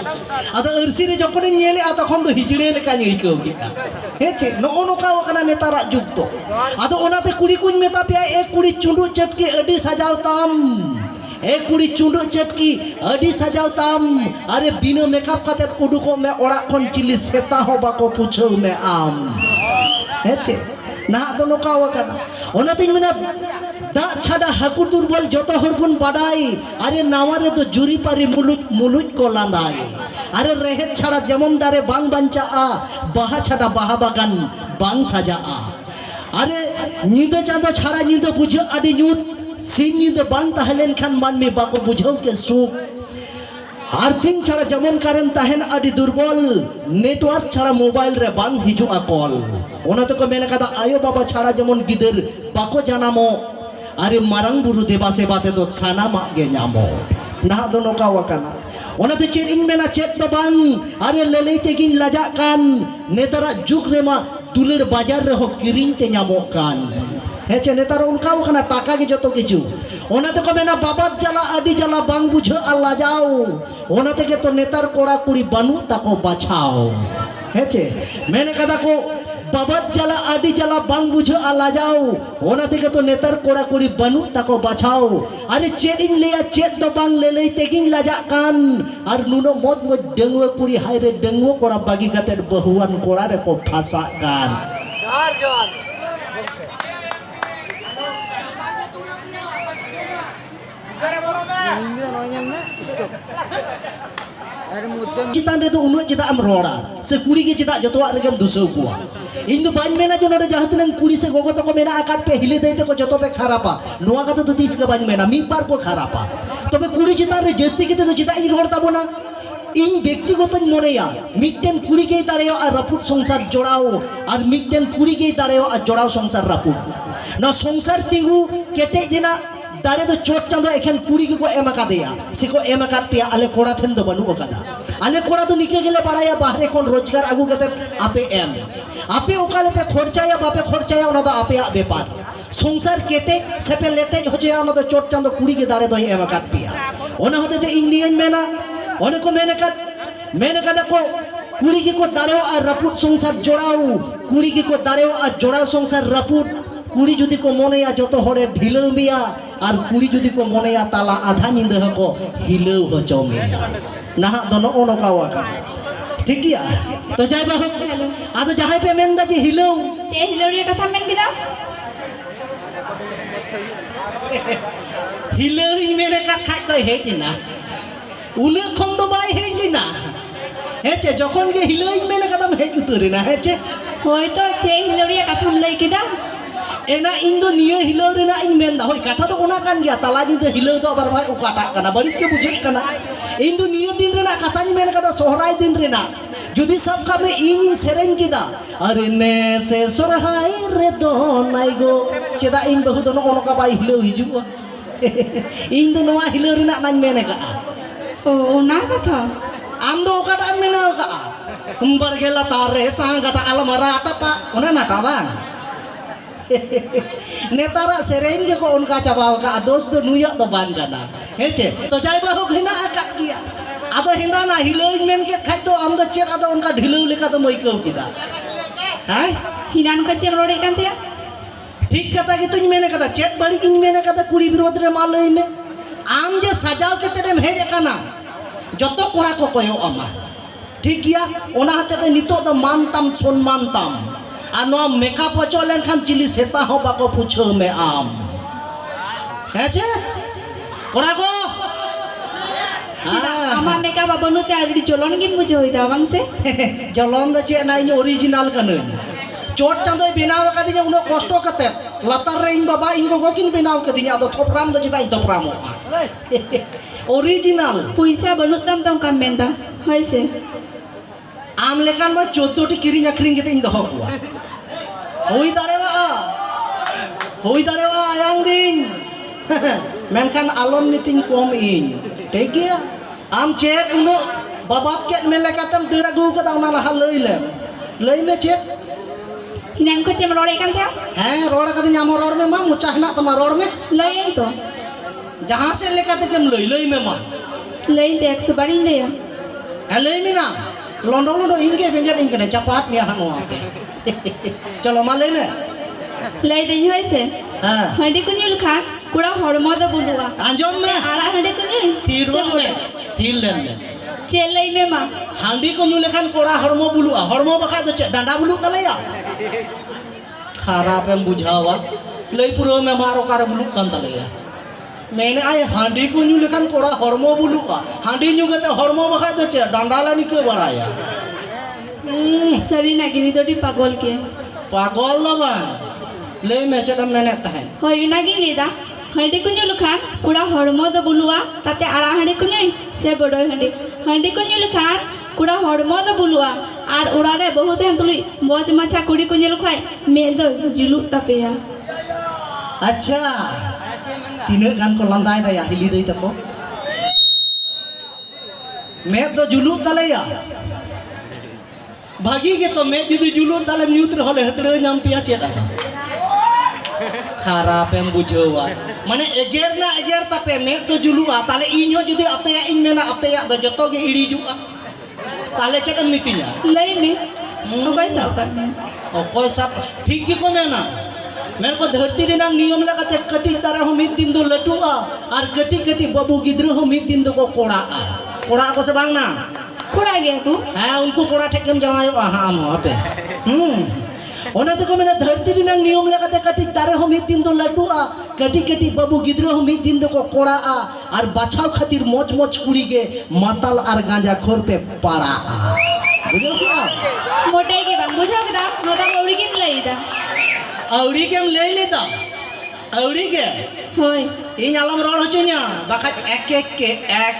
ᱟᱫᱚ ᱟᱹᱨᱥᱤ ᱨᱮ ᱡᱚᱠᱷᱚᱱᱤᱧ ᱧᱮᱞᱮᱜᱼᱟ ᱛᱚᱠᱷᱚᱱ ᱫᱚ ᱦᱤᱡᱲᱟᱹ ᱞᱮᱠᱟᱧ ᱟᱹᱭᱠᱟᱹᱣ ᱠᱮᱫᱟ ᱦᱮᱸ ᱪᱮ ᱱᱚᱜᱼᱚ ᱱᱚᱝᱠᱟ ᱠᱟᱱᱟ ᱱᱮᱛᱟᱨᱟᱜ ᱡᱩᱜᱽ ᱫᱚ ᱟᱫᱚ ᱚᱱᱟᱛᱮ ᱠᱩᱲᱤ ᱠᱚᱧ ᱢᱮᱛᱟ ᱯᱮᱭᱟ ᱮ ᱠᱩᱲᱤ ᱪᱩᱸᱰᱩ ᱪᱟᱹᱴᱠᱤ ᱟᱹᱰᱤ ᱥᱟᱡᱟᱣ ᱛᱟᱢ ᱮ ᱠᱩᱲᱤ ᱪᱩᱸᱰᱩ ᱪᱟᱹᱴᱠᱤ ᱟᱹᱰᱤ ᱥᱟᱡᱟᱣ ᱛᱟᱢ ᱟᱨᱮ ᱵᱤᱱᱟᱹ ᱢᱮᱠᱟᱯ ᱠᱟᱛᱮ ᱩᱰᱩᱠᱚᱜ ᱢᱮ ᱚᱲᱟᱜ ᱠᱷᱚᱱ ᱪᱤᱞᱤ ᱥᱮᱛᱟ ᱦᱚᱸ ᱵᱟᱠᱚ ᱯᱩᱪᱷᱟᱹᱣ ᱢᱮ ᱟᱢ ᱦᱮᱸ ᱪᱮ ᱱᱟᱦᱟᱜ ᱫᱚ ᱱᱚᱝᱠᱟ ᱟᱠᱟᱱᱟ ᱚᱱᱟᱛᱤᱧ ᱢᱮᱱᱟ ᱫᱟᱜ ᱪᱷᱟᱰᱟ ᱦᱟᱹᱠᱩ ᱫᱩᱨᱵᱚᱞ ᱡᱚᱛᱚ ᱦᱚᱲ ᱵᱚᱱ ᱵᱟᱰᱟᱭ ᱟᱨᱮ ᱱᱟᱣᱟ ᱨᱮᱫᱚ ᱡᱩᱨᱤᱯᱟᱨᱤ ᱢᱩᱞᱩᱡ ᱢᱩᱞᱩᱡ ᱠᱚ ᱞᱟᱸᱫᱟᱭ ᱟᱨᱮ ᱨᱮᱦᱮᱫ ᱪᱷᱟᱲᱟ ᱡᱮᱢᱚᱱ ᱫᱟᱨᱮ ᱵᱟᱝ ᱵᱟᱧᱪᱟᱜᱼᱟ ᱵᱟᱦᱟ ᱪᱷᱟᱰᱟ ᱵᱟᱦᱟ ᱵᱟᱜᱟᱱ ᱵᱟᱝ ᱥᱟᱡᱟᱜᱼᱟ ᱟᱨᱮ ᱧᱤᱫᱟᱹ ᱪᱟᱸᱫᱚ ᱪᱷᱟᱲᱟ ᱧᱤᱫᱟᱹ ᱵᱩᱡᱷᱟᱹᱜ ᱟᱹᱰᱤ ᱧᱩᱛ ᱥᱤᱧ ᱧᱤᱫᱟᱹ ᱵᱟᱝ ᱛᱟᱦᱮᱸ ᱞᱮᱱᱠᱷᱟᱱ ᱢᱟᱹᱱᱢᱤ ᱵᱟᱠᱚ ᱵᱩᱡᱷᱟᱹᱣ ᱠᱮ ᱥᱩᱠ ᱟᱨᱛᱷᱤᱝ ᱪᱷᱟᱲᱟ ᱡᱮᱢᱚᱱ ᱠᱟᱨᱮᱱ ᱛᱟᱦᱮᱱ ᱟᱹᱰᱤ ᱫᱩᱨᱵᱚᱞ ᱱᱮᱴᱣᱟᱨᱠ ᱪᱷᱟᱲᱟ ᱢᱳᱵᱟᱭᱤᱞ ᱨᱮ ᱵᱟᱝ ᱦᱤᱡᱩᱜᱼᱟ ᱠᱚᱞ ᱚᱱᱟ ᱛᱮᱠᱚ ᱢᱮᱱ ᱟᱠᱟᱫᱟ ᱟᱭᱳ ᱵᱟᱵᱟ ᱪᱷᱟᱲᱟ ᱡᱮᱢᱚᱱ ᱜᱤᱫᱟᱹᱨ ᱵᱟᱠᱚ ᱡᱟᱱᱟᱢᱚᱜ ᱟᱨ ᱢᱟᱨᱟᱝ ᱵᱩᱨᱩ ᱫᱮᱵᱟ ᱥᱮᱵᱟ ᱛᱮᱫᱚ ᱥᱟᱱᱟᱢᱟᱜ ᱜᱮ ᱧᱟᱢᱚᱜ ᱱᱟᱦᱟᱜ ᱫᱚ ᱱᱚᱝᱠᱟ ᱟᱠᱟᱱᱟ ᱚᱱᱟᱛᱮ ᱪᱮᱫ ᱤᱧ ᱢᱮᱱᱟ ᱪᱮᱫ ᱫᱚ ᱵᱟᱝ ᱟᱨ ᱞᱟᱹᱞᱟᱹᱭ ᱛᱮᱜᱤᱧ ᱞᱟᱡᱟᱜ ᱠᱟᱱ ᱱᱮᱛᱟᱨᱟᱜ ᱡᱩᱜᱽ ᱨᱮᱢᱟ ᱫᱩᱞᱟᱹᱲ ᱵᱟᱡᱟᱨ ᱨᱮᱦᱚᱸ ᱠᱤᱨᱤᱧ ᱛᱮ ᱧᱟᱢᱚᱜ ᱠᱟᱱ ᱦᱮᱸ ᱪᱮ ᱱᱮᱛᱟᱨ ᱚᱱᱠᱟ ᱟᱠᱟᱱᱟ ᱴᱟᱠᱟ ᱜᱮ ᱡᱚᱛᱚ ᱠᱤᱪᱷᱩ ᱚᱱᱟ ᱛᱮᱠᱚ ᱢᱮᱱᱟ ᱵᱟᱵᱟᱫ ᱡᱟᱞᱟ ᱟᱹᱰᱤ ᱡᱟᱞᱟ ᱵᱟᱝ ᱵᱩᱡᱷᱟᱹᱜᱼᱟ ᱞᱟᱡᱟᱣ ᱚᱱᱟ ᱛᱮᱜᱮ ᱛᱚ ᱱᱮᱛᱟᱨ ᱠᱚᱲᱟ ᱠᱩᱲᱤ ᱵᱟᱹᱱᱩᱜ ᱛᱟᱠᱚ ᱵᱟᱪᱷᱟᱣ ᱦᱮᱸ ᱪᱮ ᱢᱮᱱ ᱠᱟᱫᱟ ᱠᱚ ᱵᱟᱵᱟᱫ ᱡᱟᱞᱟ ᱟᱹᱰᱤ ᱡᱟᱞᱟ ᱵᱟᱝ ᱵᱩᱡᱷᱟᱹᱜᱼᱟ ᱞᱟᱡᱟᱣ ᱚᱱᱟ ᱛᱮᱜᱮ ᱛᱚ ᱱᱮᱛᱟᱨ ᱠᱚᱲᱟ ᱠᱩᱲᱤ ᱵᱟᱹᱱᱩᱜ ᱛᱟᱠᱚ ᱵᱟᱪᱷᱟᱣ ᱟᱨᱮ ᱪᱮᱫ ᱤᱧ ᱞᱟᱹᱭᱟ ᱪᱮᱫ ᱫᱚ ᱵᱟᱝ ᱞᱟᱹᱞᱟᱹᱭ ᱛᱮᱜᱮᱧ ᱞᱟᱡᱟᱜ ᱠᱟᱱ ᱟᱨ ᱱᱩᱱᱟᱹᱜ ᱢᱚᱡᱽ ᱢᱚᱡᱽ ᱰᱟᱹᱝᱣᱟᱹ ᱠᱩᱲᱤ ᱦᱟᱭ ᱨᱮ ᱰᱟᱹᱝᱣᱟᱹ ᱠᱚᱲᱟ ᱵᱟᱹᱜᱤ ᱠᱟᱛᱮ ᱵᱟᱹᱦᱩᱣᱟᱱ ᱠᱚᱲᱟ ᱨᱮᱠᱚ ᱯᱷᱟᱥᱟᱜ ᱠᱟᱱ ᱡᱚᱦᱟᱨ ᱡᱚᱦᱟᱨ ᱪᱮᱛᱟᱱ ᱨᱮᱫᱚ ᱩᱱᱟᱹᱜ ᱪᱮᱫᱟᱜ ᱮᱢ ᱨᱚᱲᱟ ᱥᱮ ᱠᱩᱲᱤ ᱜᱮ ᱪᱮᱫᱟᱜ ᱡᱚᱛᱚᱣᱟᱜ ᱨᱮᱜᱮᱢ ᱫᱩᱥᱟᱹᱣ ᱠᱚᱣᱟ ᱤᱧ ᱫᱚ ᱵᱟᱹᱧ ᱢᱮᱱᱟ ᱡᱮ ᱱᱚᱰᱮ ᱡᱟᱦᱟᱸ ᱛᱤᱱᱟᱹᱜ ᱠᱩᱲᱤ ᱥᱮ ᱜᱚᱜᱚ ᱛᱟᱠᱚ ᱢᱮᱱᱟᱜ ᱟᱠᱟᱫ ᱯᱮ ᱦᱤᱞᱤ ᱫᱟᱹᱭ ᱛᱮᱠᱚ ᱡᱚᱛᱚ ᱯᱮ ᱠᱷᱟᱨᱟᱯᱟ ᱱᱚᱣᱟ ᱠᱟᱛᱷᱟ ᱫᱚ ᱛᱤᱥ ᱜᱮ ᱵᱟᱹᱧ ᱢᱮᱱᱟ ᱢᱤᱫ ᱵᱟᱨ ᱠᱚ ᱠᱷᱟᱨᱟᱯᱟ ᱛᱚᱵᱮ ᱠᱩᱲᱤ ᱪᱮᱛᱟᱱ ᱨᱮ ᱡᱟᱹᱥᱛᱤ ᱠᱟᱛᱮ ᱫᱚ ᱪᱮᱫᱟᱜ ᱤᱧ ᱨᱚᱲ ᱛᱟᱵᱚᱱᱟ ᱤᱧ ᱵᱮᱠᱛᱤᱜᱚᱛᱚᱧ ᱢᱚᱱᱮᱭᱟ ᱢᱤᱫᱴᱮᱱ ᱠᱩᱲᱤ ᱜᱮᱭ ᱫᱟᱲᱮᱭᱟᱜᱼᱟ ᱨᱟᱹᱯᱩᱫ ᱥᱚᱝᱥᱟᱨ ᱡᱚᱲᱟᱣ ᱟᱨ ᱢᱤᱫᱴᱮᱱ ᱠᱩᱲᱤ ᱜᱮᱭ ᱫᱟᱲᱮᱭᱟᱜᱼᱟ ᱡᱚᱲᱟᱣ ᱥᱚᱝᱥᱟᱨ ᱨᱟᱹᱯᱩᱫ ᱱᱚᱣᱟ ᱥᱚᱝᱥᱟᱨ ᱛᱤᱸᱜᱩ ᱠᱮᱴᱮᱡ ᱨᱮᱱᱟᱜ ᱫᱟᱲᱮ ᱫᱚ ᱪᱚᱴ ᱪᱟᱸᱫᱚ ᱮᱠᱷᱮᱱ ᱠᱩᱲᱤ ᱜᱮᱠᱚ ᱮᱢ ᱟᱠᱟᱫᱮᱭᱟ ᱥᱮᱠᱚ ᱮᱢ ᱟᱠᱟᱫ ᱯᱮᱭᱟ ᱟᱞᱮ ᱠᱚᱲᱟ ᱴᱷᱮᱱ ᱫᱚ ᱵᱟᱹᱱᱩᱜ ᱟᱠᱟᱫᱟ ᱟᱞᱮ ᱠᱚᱲᱟ ᱫᱚ ᱱᱤᱠᱟᱹ ᱜᱮᱞᱮ ᱵᱟᱲᱟᱭᱟ ᱵᱟᱦᱨᱮ ᱠᱷᱚᱱ ᱨᱳᱡᱽᱜᱟᱨ ᱟᱹᱜᱩ ᱠᱟᱛᱮ ᱟᱯᱮ ᱮᱢ ᱟᱯᱮ ᱚᱠᱟ ᱞᱮᱠᱟ ᱠᱷᱚᱨᱪᱟᱭᱟ ᱵᱟᱯᱮ ᱠᱷᱚᱨᱪᱟᱭᱟ ᱚᱱᱟ ᱫᱚ ᱟᱯᱮᱭᱟᱜ ᱵᱮᱯᱟᱨ ᱥᱚᱝᱥᱟᱨ ᱠᱮᱴᱮᱡ ᱥᱮ ᱯᱮ ᱞᱮᱴᱮᱡ ᱦᱚᱪᱚᱭᱟ ᱚᱱᱟ ᱫᱚ ᱪᱚᱴ ᱪᱟᱸᱫᱚ ᱠᱩᱲᱤ ᱜᱮ ᱫᱟᱲᱮ ᱫᱚᱭ ᱮᱢ ᱟᱠᱟᱫ ᱯᱮᱭᱟ ᱚᱱᱟ ᱦᱚᱛᱮ ᱛᱮ ᱤᱧ ᱱᱤᱭᱟᱹᱧ ᱢᱮᱱᱟ ᱚᱱᱮ ᱠᱚ ᱢᱮᱱ ᱟᱠᱟᱫ ᱢᱮᱱ ᱟᱠᱟᱫᱟ ᱠᱚ ᱠᱩᱲᱤ ᱜᱮᱠᱚ ᱫᱟᱲᱮᱣᱟᱜᱼᱟ ᱨᱟᱹᱯᱩᱫ ᱥᱚᱝᱥᱟᱨ ᱡᱚᱲᱟᱣ ᱠᱩᱲᱤ ᱜᱮᱠᱚ ᱫᱟᱲᱮᱣᱟᱜᱼᱟ ᱡᱚᱲᱟᱣ ᱥᱚᱝᱥᱟᱨ ᱨᱟᱹᱯᱩᱫ ᱠᱩᱲᱤ ᱡᱩᱫᱤ ᱠᱚ ᱢᱚᱱᱮᱭᱟ ᱡᱚᱛᱚ ᱦᱚᱲᱮ ᱰᱷᱤᱞᱟᱹᱣ ᱢᱮᱭᱟ ᱟᱨ ᱠᱩᱲᱤ ᱡᱩᱫᱤ ᱠᱚ ᱢᱚᱱᱮᱭᱟ ᱛᱟᱞᱟ ᱟᱫᱷᱟ ᱧᱤᱫᱟᱹ ᱦᱚᱸᱠᱚ ᱦᱤᱞᱟᱹᱣ ᱦᱚᱪᱚ ᱢᱮᱭᱟ ᱱᱟᱦᱟᱜ ᱫᱚ ᱱᱚᱜᱼᱚ ᱱᱚᱝᱠᱟ ᱟᱠᱟᱱᱟ ᱴᱷᱤᱠ ᱜᱮᱭᱟ ᱛᱚ ᱡᱟᱭ ᱵᱟᱦᱳᱠ ᱟᱫᱚ ᱡᱟᱦᱟᱸᱭ ᱯᱮ ᱢᱮᱱᱫᱟ ᱡᱮ ᱦᱤᱞᱟᱹᱣ ᱪᱮᱫ ᱦᱤᱞᱟᱹᱣ ᱨᱮᱭᱟᱜ ᱠᱟᱛᱷᱟᱢ ᱢᱮᱱ ᱠᱮᱫᱟ ᱦᱤᱞᱟᱹᱣ ᱤᱧ ᱢᱮᱱ ᱟᱠᱟᱫ ᱠᱷᱟᱡ ᱫᱚᱭ ᱦᱮᱡ ᱮᱱᱟ ᱩᱱᱟᱹᱜ ᱠᱷᱚᱱ ᱫᱚ ᱵᱟᱭ ᱦᱮᱡ ᱞᱮᱱᱟ ᱦᱮᱸ ᱪᱮ ᱡᱚᱠᱷᱚᱱ ᱜᱮ ᱦᱤᱞᱟᱹᱣ ᱤᱧ ᱢᱮᱱ ᱟᱠᱟᱫᱟᱢ ᱦᱮᱡ ᱩᱛᱟᱹᱨ ᱮᱱᱟ ᱦᱮᱸ ᱪᱮ ᱦᱳᱭ ᱛᱚ ᱪᱮᱫ ᱦᱤᱞᱟᱹᱣ ᱨᱮᱭᱟᱜ ᱠᱟᱛᱷᱟᱢ ᱞᱟᱹᱭ ᱠᱮᱫᱟ ᱮᱱᱟ ᱤᱧ ᱫᱚ ᱱᱤᱭᱟᱹ ᱦᱤᱞᱟᱹᱣ ᱨᱮᱱᱟᱜ ᱤᱧ ᱢᱮᱱᱫᱟ ᱦᱳᱭ ᱠᱟᱛᱷᱟ ᱫᱚ ᱚᱱᱟ ᱠᱟᱱ ᱜᱮᱭᱟ ᱛᱟᱞᱟ ᱧᱤᱫᱟᱹ ᱦᱤᱞᱟᱹᱣ ᱫᱚ ᱟᱵᱟᱨ ᱵᱟᱭ ᱚᱠᱟᱴᱟᱜ ᱠᱟᱱᱟ ᱵᱟᱹᱲᱤᱡ ᱜᱮ ᱵᱩᱡᱷᱟᱹᱜ ᱠᱟᱱᱟ ᱤᱧ ᱫᱚ ᱱᱤᱭᱟᱹ ᱫᱤᱱ ᱨᱮᱱᱟᱜ ᱠᱟᱛᱷᱟᱧ ᱢᱮᱱ ᱟᱠᱟᱫᱟ ᱥᱚᱦᱨᱟᱭ ᱫᱤᱱ ᱨᱮᱱᱟᱜ ᱡᱩᱫᱤ ᱥᱟᱵ ᱠᱟᱜ ᱢᱮ ᱤᱧᱤᱧ ᱥᱮᱨᱮᱧ ᱠᱮᱫᱟ ᱟᱨᱮ ᱱᱮᱥᱮ ᱥᱚᱨᱦᱟᱭ ᱨᱮ ᱫᱚᱱᱟᱭ ᱜᱚ ᱪᱮᱫᱟᱜ ᱤᱧ ᱵᱟᱹᱦᱩ ᱫᱚ ᱱᱚᱜᱼᱚ ᱱᱚᱝᱠᱟ ᱵᱟᱭ ᱦᱤᱞᱟᱹᱣ ᱦᱤᱡᱩᱜᱼᱟ ᱤᱧ ᱫᱚ ᱱᱚᱣᱟ ᱦᱤᱞᱟᱹᱣ ᱨᱮᱱᱟᱜ ᱱᱟᱧ ᱢᱮᱱ ᱟᱠᱟᱜᱼᱟ ᱚ ᱚᱱᱟ ᱠᱟᱛᱷᱟ ᱟᱢ ᱫᱚ ᱚᱠᱟᱴᱟᱜ ᱮᱢ ᱢᱮᱱᱟᱣ ᱟᱠᱟᱜᱼᱟ ᱵᱟᱲᱜᱮ ᱞᱟᱛᱟᱨ ᱨᱮ ᱥᱟᱝ ᱜᱟᱫᱟ ᱟᱞᱢᱟᱨᱟ ᱴᱟᱯᱟᱜ ᱚᱱᱮ ᱚᱱᱟᱴᱟᱜ ᱵᱟᱝ ᱱᱮᱛᱟᱨᱟᱜ ᱥᱮᱨᱮᱧ ᱜᱮᱠᱚ ᱚᱱᱠᱟ ᱪᱟᱵᱟ ᱟᱠᱟᱫᱼᱟ ᱫᱳᱥ ᱫᱚ ᱱᱩᱭᱟᱜ ᱫᱚ ᱵᱟᱝ ᱠᱟᱱᱟ ᱦᱮᱸ ᱪᱮ ᱛᱚ ᱡᱟᱭ ᱵᱟᱦᱳᱠ ᱦᱮᱱᱟᱜ ᱟᱠᱟᱫ ᱜᱮᱭᱟ ᱟᱫᱚ ᱦᱮᱸᱫᱟᱱᱟ ᱦᱤᱞᱟᱹᱣᱤᱧ ᱢᱮᱱ ᱠᱮᱫ ᱠᱷᱟᱡ ᱫᱚ ᱟᱢ ᱫᱚ ᱪᱮᱫ ᱟᱫᱚ ᱚᱱᱠᱟ ᱰᱷᱤᱞᱟᱹᱣ ᱞᱮᱠᱟ ᱫᱚᱢ ᱟᱹᱭᱠᱟᱹᱣ ᱠᱮᱫᱟ ᱦᱮᱸ ᱦᱤᱱᱟᱱ ᱠᱷᱚᱡ ᱪᱮᱫ ᱮᱢ ᱨᱚᱲᱮᱫ ᱠᱟᱱ ᱛᱟᱦᱮᱸᱜᱼᱟ ᱴᱷᱤᱠ ᱠᱟᱛᱷᱟ ᱜᱮᱛᱚᱧ ᱢᱮᱱ ᱠᱟᱫᱟ ᱪᱮᱫ ᱵᱟᱹᱲᱤᱡ ᱤᱧ ᱢᱮᱱ ᱠᱟᱫᱟ ᱠᱩᱲᱤ ᱵᱤᱨᱳᱫᱷ ᱨᱮ ᱢᱟ ᱞᱟᱹᱭ ᱢᱮ ᱟᱢ ᱡᱮ ᱥᱟᱡᱟᱣ ᱠᱟᱛᱮᱫ ᱮᱢ ᱦᱮᱡ ᱟᱠᱟᱱᱟ ᱡᱚᱛᱚ ᱠᱚᱲᱟ ᱠᱚ ᱠᱚᱭᱚᱜ ᱟᱢᱟ ᱴᱷᱤᱠ ᱜᱮᱭᱟ ᱚᱱᱟ ᱦᱚᱛᱮᱡ ᱛᱮ ᱱᱤᱛᱚᱜ ᱫᱚ ᱢᱟᱱ ᱛᱟᱢ ᱥᱚᱱᱢᱟᱱ ᱛᱟᱢ ᱟᱨ ᱱᱚᱣᱟ ᱢᱮᱠᱟᱯ ᱚᱪᱚᱜ ᱞᱮᱱᱠᱷᱟᱱ ᱪᱤᱞᱤ ᱥᱮᱛᱟ ᱦᱚᱸ ᱵᱟᱠᱚ ᱯᱩᱪᱷᱟᱹᱣ ᱢᱮ ᱟᱢ ᱦᱮᱸ ᱪᱮ ᱠᱚᱲᱟ ᱠᱚ ᱟᱢᱟᱜ ᱢᱮᱠᱟᱯ ᱟᱜ ᱵᱟᱹᱱᱩᱜ ᱛᱮ ᱟᱹᱰᱤ ᱡᱚᱞᱚᱱ ᱜᱮᱢ ᱵᱩᱡᱷᱟᱹᱣᱮᱫᱟ ᱵᱟᱝ ᱥᱮ ᱡᱚᱞᱚᱱ ᱫᱚ ᱪᱮᱫ ᱱᱟ ᱤᱧ ᱚᱨᱤᱡᱤᱱᱟᱞ ᱠᱟᱹᱱᱟᱹᱧ ᱪᱚᱴ ᱪᱟᱸᱫᱚᱭ ᱵᱮᱱᱟᱣ ᱟᱠᱟᱫᱤᱧᱟ ᱩᱱᱟᱹᱜ ᱠᱚᱥᱴᱚ ᱠᱟᱛᱮ ᱞᱟᱛᱟᱨ ᱨᱮ ᱤᱧ ᱵᱟᱵᱟ ᱤᱧ ᱜᱚᱜᱚ ᱠᱤᱱ ᱵᱮᱱᱟᱣ ᱠᱟᱹᱫᱤᱧᱟ ᱟᱫᱚ ᱛᱷᱚᱯᱨᱟᱢ ᱫᱚ ᱪᱮᱫᱟᱜ ᱤᱧ ᱛᱷᱚᱯᱨᱟᱢᱚᱜᱼᱟ ᱚᱨᱤᱡᱤᱱᱟᱞ ᱯᱚᱭᱥᱟ ᱵᱟᱹᱱᱩᱜ ᱛᱟᱢ ᱛᱮ ᱚᱱᱠᱟᱢ ᱢᱮᱱᱫᱟ ᱦᱳᱭ ᱥᱮ ᱟᱢ ᱞᱮᱠᱟᱱ ᱢᱟ ᱪᱳᱫᱫᱳ ᱴᱤ ᱠᱤᱨᱤᱧ ᱟᱹᱠᱷᱨᱤᱧ ᱠᱟᱛᱮ ᱤᱧ ᱫᱚᱦᱚ ᱠᱚᱣᱟ ᱦᱩᱭ ᱫᱟᱲᱮᱭᱟᱜᱼᱟ ᱦᱩᱭ ᱫᱟᱲᱮᱭᱟᱜᱼᱟ ᱟᱭᱟᱝ ᱫᱤᱧ ᱢᱮᱱᱠᱷᱟᱱ ᱟᱞᱚᱢ ᱢᱤᱛᱟᱹᱧ ᱠᱚᱢ ᱤᱧ ᱴᱷᱤᱠ ᱜᱮᱭᱟ ᱟᱢ ᱪᱮᱫ ᱩᱱᱟᱹᱜ ᱵᱟᱵᱟᱫ ᱠᱮᱫ ᱢᱮ ᱞᱮᱠᱟᱛᱮᱢ ᱫᱟᱹᱲ ᱟᱹᱜᱩ ᱠᱟᱫᱟ ᱚᱱᱟ ᱞᱟᱦᱟ ᱞᱟᱹᱭ ᱞᱮᱢ ᱞᱟᱹᱭ ᱢᱮ ᱪᱮᱫ ᱦᱤᱱᱟᱱ ᱠᱷᱚᱱ ᱪᱮᱫ ᱮᱢ ᱨᱚᱲᱮᱫ ᱠᱟᱱ ᱛᱟᱦᱮᱸᱫ ᱦᱮᱸ ᱨᱚᱲ ᱠᱟᱹᱫᱟᱹᱧ ᱟᱢ ᱦᱚᱸ ᱨᱚᱲ ᱢᱮ ᱢᱟ ᱢᱚᱪᱟ ᱦᱮᱱᱟᱜ ᱛᱟᱢᱟ ᱨᱚᱲ ᱢᱮ ᱞᱟᱹᱭᱟᱹᱧ ᱛᱚ ᱡᱟᱦᱟᱸ ᱥᱮᱫ ᱞᱮᱠᱟ ᱛᱮᱜᱮᱢ ᱞᱟᱹᱭ ᱞᱟᱹᱭ ᱢᱮ ᱢᱟ ᱞᱟᱹᱭ ᱛᱮ ᱮᱠᱥᱚ ᱵᱟᱨᱤᱧ ᱞᱟᱹᱭᱟ ᱦᱮᱸ ᱞᱟᱹᱭ ᱢᱮ ᱱᱟ ᱞᱚᱸᱰᱚ ᱞᱚᱸᱰᱚ ᱤᱧ ᱜᱮ ᱵᱮᱸᱜᱮᱫ ᱤᱧ ᱠᱟᱱᱟ ᱪᱟᱯᱟᱫ ᱢᱮᱭᱟ ᱦᱟᱸᱜ ᱱᱚᱣᱟ ᱛᱮ ᱪᱚᱞᱚ ᱢᱟ ᱞᱟᱹᱭ ᱢᱮ ᱞᱟᱹᱭ ᱫᱟᱹᱧ ᱦᱳᱭ ᱥᱮ ᱦᱮᱸ ᱦᱟᱺᱰᱤ ᱠᱚ ᱧᱩ ᱞᱮᱠᱷᱟᱱ ᱠᱚᱲᱟ ᱦᱚᱲᱢᱚ ᱫᱚ ᱵᱩᱞᱩᱜᱼᱟ ᱟᱸᱡᱚᱢ ᱢᱮ ᱟᱲᱟᱜ ᱦᱟᱺᱰᱤ ᱠᱚ ᱧᱩᱭ ᱛᱷᱤᱨ ᱥᱮ ᱵᱟᱝ ᱢᱮ ᱵᱩᱞᱩᱜ? ᱛᱷᱤᱨ ᱞᱮᱱ ᱢᱮ ᱪᱮᱫ ᱞᱟᱹᱭ ᱢᱮ ᱢᱟ ᱦᱟᱺᱰᱤ ᱠᱚ ᱧᱩ ᱞᱮᱠᱷᱟᱱ ᱠᱚᱲᱟ ᱦᱚᱲᱢᱚ ᱵᱩᱞᱩᱜᱼᱟ ᱦᱚᱲᱢᱚ ᱵᱟᱠᱷᱟᱡ ᱫᱚ ᱪᱮᱫ ᱰᱟᱸᱰᱟ ᱵᱩᱞᱩᱜ ᱛᱟᱞᱮᱭᱟ ᱠᱷᱟᱨᱟᱯ ᱮᱢ ᱵᱩᱡᱷᱟᱹᱣᱟ ᱞᱟᱹᱭ ᱯᱩᱨᱟᱹᱣ ᱢᱮ ᱢᱟᱨ ᱚᱠᱟᱨᱮ ᱵᱩᱞᱩᱜ ᱠᱟᱱ ᱛᱟᱞᱮᱭᱟ ᱢᱮᱱᱮᱫ ᱟᱭ ᱦᱟᱺᱰᱤ ᱠᱚ ᱧᱩ ᱞᱮᱠᱷᱟᱱ ᱠᱚᱲᱟ ᱦᱚᱲᱢᱚ ᱵᱩᱞᱩᱜᱼᱟ ᱦᱟᱺᱰᱤ ᱧᱩ ᱠᱟᱛᱮ ᱦᱚᱲᱢᱚ ᱵᱟᱠᱷᱟᱡ ᱫᱚ ᱪᱮᱫ ᱰᱟᱸᱰᱟ ᱞᱮ ᱱᱤᱠᱟᱹ ᱵᱟᱲᱟᱭᱟ ᱥᱟᱹᱨᱤᱱᱟᱜ ᱜᱮ ᱱᱤᱛ ᱟᱹᱰᱤ ᱯᱟᱜᱚᱞ ᱜᱮ ᱯᱟᱜᱚᱞ ᱫᱚ ᱵᱟᱝ ᱞᱟᱹᱭ ᱢᱮ ᱪᱮᱫ ᱮᱢ ᱢᱮᱱᱮᱫ ᱛᱟᱦᱮᱸᱫ ᱦᱳᱭ ᱚᱱᱟᱜᱤᱧ ᱞᱟᱹᱭᱫᱟ ᱦᱟᱺᱰᱤ ᱠᱚ ᱧᱩ ᱞᱮᱠᱷᱟᱱ ᱠᱚᱲᱟ ᱦᱚᱲᱢᱚ ᱫᱚ ᱵᱩᱞᱩᱜᱼᱟ ᱛᱟᱛᱮ ᱟᱲᱟᱜ ᱦᱟᱺᱰᱤ ᱠᱚ ᱧᱩᱭ ᱥᱮ ᱵᱚᱰᱚᱭ ᱦᱟᱺᱰᱤ ᱦᱟᱺᱰᱤ ᱠᱚ ᱧᱩ ᱞᱮᱠᱷᱟᱱ ᱠᱚᱲᱟ ᱦᱚᱲᱢᱚ ᱫᱚ ᱵᱩᱞᱩᱜᱼᱟ ᱟᱨ ᱚᱲᱟᱜ ᱨᱮ ᱵᱟᱹᱦᱩ ᱛᱟᱦᱮᱱ ᱛᱩᱞᱩᱡ ᱢᱚᱡᱽ ᱢᱟᱪᱷᱟ ᱠᱩᱲᱤ ᱠᱚ ᱧᱮᱞ ᱠᱷᱟᱡ ᱢᱮᱫ ᱫᱚ ᱡᱩᱞᱩᱜ ᱛᱟᱯᱮᱭᱟ ᱟᱪᱪᱷᱟ ᱛᱤᱱᱟᱹᱜ ᱜᱟᱱ ᱠᱚ ᱞᱟᱸᱫᱟᱭᱮᱫᱟ ᱭᱟ ᱦᱤᱞᱤ ᱫᱟᱹᱭ ᱛᱟᱠᱚ ᱢᱮᱫ ᱫᱚ ᱡᱩᱞᱩᱜ ᱛᱟᱞᱮᱭᱟ ᱵᱷᱟᱹᱜᱤ ᱜᱮᱛᱚ ᱢᱮᱫ ᱡᱩᱫᱤ ᱡᱩᱞᱩᱜ ᱛᱟᱞᱮ ᱧᱩᱛ ᱨᱮᱦᱚᱸ ᱞᱮ ᱦᱟᱹᱛᱲᱟᱹᱣ ᱧᱟᱢ ᱯᱮᱭᱟ ᱪᱮᱫ ᱟᱫᱚ ᱠᱷᱟᱨᱟᱯ ᱮᱢ ᱵᱩᱡᱷᱟᱹᱣᱟ ᱢᱟᱱᱮ ᱮᱜᱮᱨ ᱱᱟ ᱮᱜᱮᱨ ᱛᱟᱯᱮ ᱢᱮᱫ ᱫᱚ ᱡᱩᱞᱩᱜᱼᱟ ᱛᱟᱦᱞᱮ ᱤᱧ ᱦᱚᱸ ᱡᱩᱫᱤ ᱟᱯᱮᱭᱟᱜ ᱤᱧ ᱢᱮᱱᱟ ᱟᱯᱮᱭᱟᱜ ᱫᱚ ᱡᱚᱛᱚ ᱜᱮ ᱤᱲᱤᱡᱚᱜᱼᱟ ᱛᱟᱦᱞᱮ ᱪᱮᱫ ᱮᱢ ᱢᱤᱛᱤᱧᱟ ᱞᱟᱹᱭ ᱢᱮ ᱚᱠᱚᱭ ᱥᱟᱵ ᱟᱠᱟᱫ ᱢᱮᱭᱟ ᱚᱠᱚᱭ ᱥᱟᱵ ᱴᱷᱤᱠ ᱜᱮᱠᱚ ᱢᱮᱱᱟ ᱢᱮᱱ ᱠᱚ ᱫᱷᱟᱹᱨᱛᱤ ᱨᱮᱱᱟᱜ ᱱᱤᱭᱚᱢ ᱞᱮᱠᱟᱛᱮ ᱠᱟᱹᱴᱤᱡ ᱫᱟᱨᱮ ᱦᱚᱸ ᱢᱤᱫ ᱫᱤᱱ ᱫᱚ ᱞᱟᱹᱴᱩᱜᱼᱟ ᱟᱨ ᱠᱟᱹᱴᱤᱡ ᱠᱟᱹᱴᱤᱡ ᱵᱟᱹᱵᱩ ᱜᱤᱫᱽᱨᱟᱹ ᱦᱚᱸ ᱢᱤᱫ ᱫᱤᱱ ᱫᱚᱠᱚ ᱠᱚᱲᱟᱜᱼᱟ ᱠᱚᱲᱟᱜ ᱟᱠᱚ ᱥᱮ ᱵᱟᱝ ᱱᱟ ᱠᱚᱲᱟ ᱜᱮᱭᱟ ᱠᱚ ᱦᱮᱸ ᱩᱱᱠᱩ ᱠᱚᱲᱟ ᱴᱷᱮᱡ ᱜᱮᱢ ᱡᱟᱶᱟᱭᱚᱜᱼᱟ ᱦᱟᱸᱜ ᱟᱢ ᱦᱚᱸ ᱦᱟᱯᱮ ᱦᱩᱸ ᱚᱱᱟ ᱛᱮᱠᱚ ᱢᱮᱱᱟ ᱫᱷᱟᱹᱨᱛᱤ ᱨᱮᱱᱟᱝ ᱱᱤᱭᱚᱢ ᱞᱮᱠᱟᱛᱮ ᱠᱟᱹᱴᱤᱡ ᱫᱟᱨᱮ ᱦᱚᱸ ᱢᱤᱫ ᱫᱤᱱ ᱫᱚ ᱞᱟᱹᱴᱩᱜᱼᱟ ᱠᱟᱹᱴᱤᱡ ᱠᱟᱹᱴᱤᱡ ᱵᱟᱹᱵᱩ ᱜᱤᱫᱽᱨᱟᱹ ᱦᱚᱸ ᱢᱤᱫ ᱫᱤᱱ ᱫᱚᱠᱚ ᱠᱚᱲᱟᱜᱼᱟ ᱟᱨ ᱵᱟᱪᱷᱟᱣ ᱠᱷᱟᱹᱛᱤᱨ ᱢᱚᱡᱽ ᱢᱚᱡᱽ ᱠᱩᱲᱤ ᱜᱮ ᱢᱟᱛᱟᱞ ᱟᱨ ᱜᱟᱸᱡᱟ ᱠᱷᱳᱨ ᱯᱮ ᱯᱟᱲᱟᱜᱼᱟ ᱵᱩᱡᱷᱟᱹᱣ ᱠᱮᱜᱼᱟ ᱢᱚᱴᱮ ᱜᱮ ᱵᱟᱝ ᱵᱩᱡᱷᱟᱹᱣ ᱠᱮᱫᱟ ᱱᱚᱣᱟ ᱫᱚ ᱟᱹᱣᱲᱤ ᱜᱮᱢ ᱞᱟᱹᱭᱮᱫᱟ ᱟᱹᱣᱲᱤ ᱜᱮᱢ ᱞᱟᱹᱭ ᱞᱮᱫᱟ ᱟᱹᱣᱲᱤ ᱜᱮ ᱦᱳᱭ ᱤᱧ ᱟᱞᱚᱢ ᱨᱚᱲ ᱦᱚᱪᱚᱧᱟ ᱵᱟᱠᱷᱟᱡ ᱮᱠ ᱮᱠ ᱠᱮ ᱮᱠ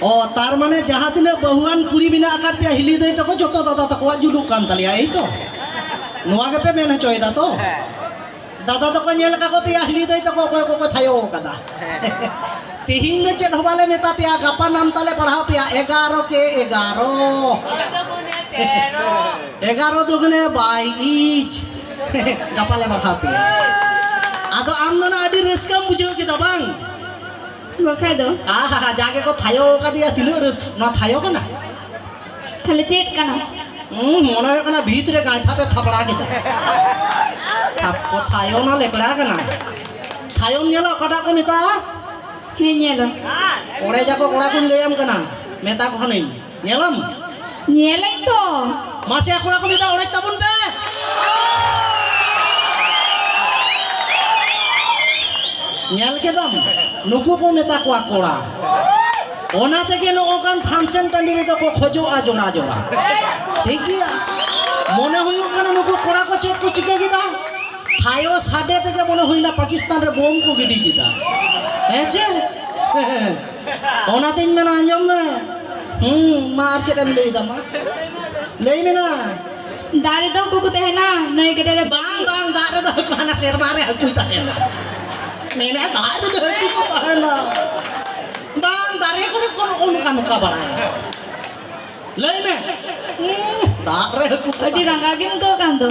ᱚ ᱛᱟᱨ ᱢᱟᱱᱮ ᱡᱟᱦᱟᱸ ᱛᱤᱱᱟᱹᱜ ᱵᱟᱹᱦᱩᱣᱟᱱ ᱠᱩᱲᱤ ᱢᱮᱱᱟᱜ ᱟᱠᱟᱫ ᱯᱮᱭᱟ ᱦᱤᱞᱤ ᱫᱟᱹᱭ ᱛᱟᱠᱚ ᱡᱚᱛᱚ ᱫᱟᱫᱟ ᱛᱟᱠᱚᱣᱟᱜ ᱡᱩᱞᱩᱜ ᱠᱟᱱ ᱛᱟᱞᱮᱭᱟ ᱮᱭ ᱛᱚ ᱱᱚᱣᱟ ᱜᱮᱯᱮ ᱢᱮᱱ ᱦᱚᱪᱚᱭᱮᱫᱟ ᱛᱚ ᱫᱟᱫᱟ ᱛᱟᱠᱚ ᱧᱮᱞ ᱠᱟᱠᱚ ᱯᱮᱭᱟ ᱦᱤᱞᱤ ᱫᱟᱹᱭ ᱛᱟᱠᱚ ᱚᱠᱚᱭ ᱠᱚᱠᱚ ᱛᱷᱟᱭᱚ ᱟᱠᱟᱫᱟ ᱛᱤᱦᱤᱧ ᱫᱚ ᱪᱮᱫ ᱦᱚᱸ ᱵᱟᱞᱮ ᱢᱮᱛᱟ ᱯᱮᱭᱟ ᱜᱟᱯᱟ ᱱᱟᱢ ᱛᱟᱞᱮ ᱯᱟᱲᱦᱟᱣ ᱯᱮᱭᱟ ᱮᱜᱟᱨᱚ ᱠᱮ ᱮᱜᱟᱨᱚ ᱮᱜᱟᱨᱚ ᱫᱩᱜᱩᱱᱮ ᱵᱟᱭ ᱤᱡ ᱜᱟᱯᱟ ᱞᱮ ᱯᱟᱲᱦᱟᱣ ᱯᱮᱭᱟ ᱟᱫᱚ ᱟᱢ ᱫᱚ ᱟᱹᱰᱤ ᱨᱟᱹᱥᱠᱟᱹᱢ ᱵᱩᱡᱷᱟᱹᱣ ᱠᱮᱫᱟ ᱵᱟᱝ ᱵᱟᱠᱷᱟᱡ ᱫᱚ ᱟᱦᱟ ᱦᱟ ᱡᱟᱜᱮ ᱠᱚ ᱛᱷᱟᱭᱚ ᱠᱟᱫᱮᱭᱟ ᱛᱤᱱᱟᱹᱜ ᱨᱟᱹᱥ ᱱᱚᱣᱟ ᱛᱷᱟᱭᱚ ᱠᱟᱱᱟ ᱛᱟᱦᱞᱮ ᱪᱮᱫ ᱠᱟᱱᱟ ᱦᱩᱸ ᱢᱚᱱᱮ ᱦᱩᱭᱩᱜ ᱠᱟᱱᱟ ᱵᱷᱤᱛ ᱨᱮ ᱜᱟᱸᱴᱷᱟ ᱯᱮ ᱛᱷᱟᱯᱲᱟ ᱠᱮᱫᱟ ᱛᱟᱯᱚ ᱛᱷᱟᱭᱚ ᱱᱚᱣᱟ ᱞᱮᱠᱲᱟ ᱠᱟᱱᱟ ᱛᱷᱟᱭᱚᱢ ᱧᱮᱞᱟ ᱚᱠᱟᱴᱟᱜ ᱠᱚ ᱢᱮᱛᱟᱜᱼᱟ ᱦᱮᱸ ᱧᱮᱞᱟ ᱚᱲᱮᱡᱟᱠᱚ ᱠᱚᱲᱟ ᱠᱚᱧ ᱞᱟᱹᱭᱟᱢ ᱠᱟᱱᱟ ᱢᱮᱛᱟ ᱠᱚ ᱠᱟᱹᱱᱟᱹᱧ ᱧᱮᱞᱟᱢ ᱧᱮᱞᱟᱹᱧ ᱛᱚ ᱢᱟᱥᱮ ᱠᱚᱲᱟ ᱠᱚ ᱢᱤᱫ ᱫᱷᱟᱣ ᱚᱲᱮᱡ ᱛᱟᱵᱚᱱ ᱯᱮ ᱧᱮᱞ ᱠᱮᱫᱟᱢ ᱱᱩᱠᱩ ᱠᱚ ᱢᱮᱛᱟ ᱠᱚᱣᱟ ᱠᱚᱲᱟ ᱚᱱᱟ ᱛᱮᱜᱮ ᱱᱚᱜᱼᱚᱱᱠᱟᱱ ᱯᱷᱟᱱᱥᱮᱱ ᱴᱟᱺᱰᱤ ᱨᱮᱫᱚ ᱠᱚ ᱠᱷᱚᱡᱚᱜᱼᱟ ᱡᱚᱲᱟ ᱡᱚᱲᱟ ᱴᱷᱤᱠ ᱜᱮᱭᱟ ᱢᱚᱱᱮ ᱦᱩᱭᱩᱜ ᱠᱟᱱᱟ ᱱᱩᱠᱩ ᱠᱚᱲᱟ ᱠᱚ ᱪᱮᱫ ᱠᱚ ᱪᱤᱠᱟᱹ ᱠᱮᱫᱟ ᱛᱷᱟᱭᱚ ᱥᱟᱰᱮ ᱛᱮᱜᱮ ᱢᱚᱱᱮ ᱦᱩᱭᱱᱟ ᱯᱟᱠᱤᱥᱛᱟᱱ ᱨᱮ ᱵᱳᱢ ᱠᱚ ᱜᱤᱰᱤ ᱠᱮᱫᱟ ᱦᱮᱸ ᱪᱮ ᱚᱱᱟᱛᱤᱧ ᱢᱮᱱᱟ ᱟᱸᱡᱚᱢ ᱢᱮ ᱦᱩᱸ ᱢᱟ ᱟᱨ ᱪᱮᱫ ᱮᱢ ᱞᱟᱹᱭ ᱫᱟ ᱢᱟ ᱞᱟᱹᱭ ᱢᱮ ᱱᱟ ᱫᱟᱨᱮ ᱫᱚ ᱠᱚᱠᱚ ᱛᱟᱦᱮᱱᱟ ᱱᱟᱹᱭ ᱜᱟᱰᱟ ᱨᱮ ᱵᱟᱝ ᱵᱟᱝ ᱫᱟᱜ ᱨᱮᱫᱚ ᱦᱟᱹᱠᱩ ᱦᱟᱱᱟ ᱥᱮᱨᱢᱟ ᱨᱮ ᱦᱟᱹᱠᱩᱭ ᱛᱟᱦᱮᱱᱟ ᱢᱮᱱᱟ ᱫᱟᱜ ᱨᱮᱫᱚ ᱦᱟᱹᱠᱩ ᱠᱚ ᱛᱟᱦᱮᱱᱟ ᱵᱟᱝ ᱫᱟᱨᱮ ᱠᱚᱨᱮ ᱠᱚ ᱱᱚᱜᱼᱚ ᱱᱚᱝᱠᱟ ᱱᱚᱝᱠᱟ ᱵᱟᱲᱟᱭᱟ ᱞᱟᱹᱭ ᱢᱮ ᱫᱟᱜ ᱨᱮ ᱦᱟᱹᱠᱩ ᱟᱹᱰᱤ ᱨᱟᱸᱜᱟᱣ ᱜᱮᱢ ᱟᱹᱭᱠᱟᱹᱣ ᱠᱟᱱ ᱫᱚ